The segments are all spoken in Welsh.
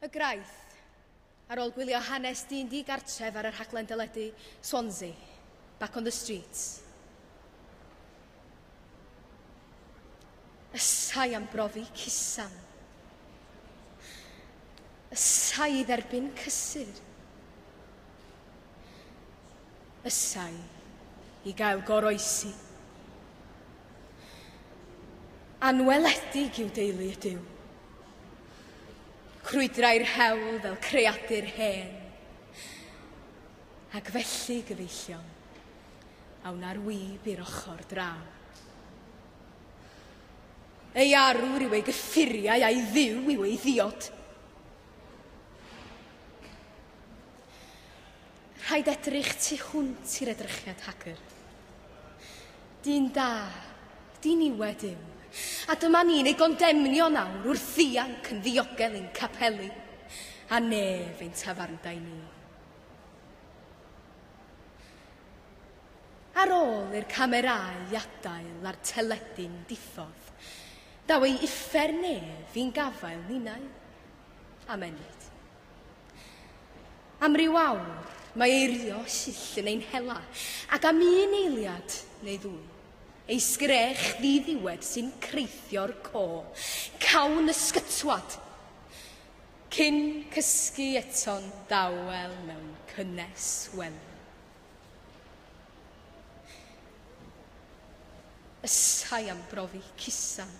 Y Graith, ar ôl gwylio hanes dyn di-gartref ar y rhaglen deledu Swansea, Back on the Streets. Ysai am brofi cusam. Ysai dderbyn cysur. Ysai i gael goroesi. Anweledig i'w deulu ydyw. Crwydrai'r hewl fel creadur hen. Ac felly, gyfeillion, a wna'r wib i'r ochr draw. Ei arwr yw ei gyffuriau a'i dduw yw ei ddiod. Rhaid edrych tu hwnt i'r edrychiad hagr. Dyn da, diniwed yw, a dyma ni'n ei gondemnio nawr wrth ddianc yn ddiogel i'n capeli, a nef ein tafarndai ni. Ar ôl i'r camerâu adael a'r teledu'n diffodd, daw ei uffern ef i'n gafael ninnau. Am ennyd. Am ryw awr, mae eirio llyll yn ein hela, ac am un eiliad neu ddwy, ei sgrech ddiddiwed sy'n creithio'r co, cawn ysgytwad. Cyn cysgu eto'n dawel mewn cynnes wely. Ysai am brofi cusan.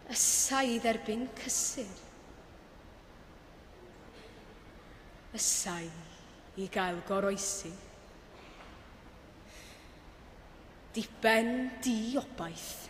Y sa'i dderbyn cysur. Y sa'i i gael goroesi. Diben di obaith.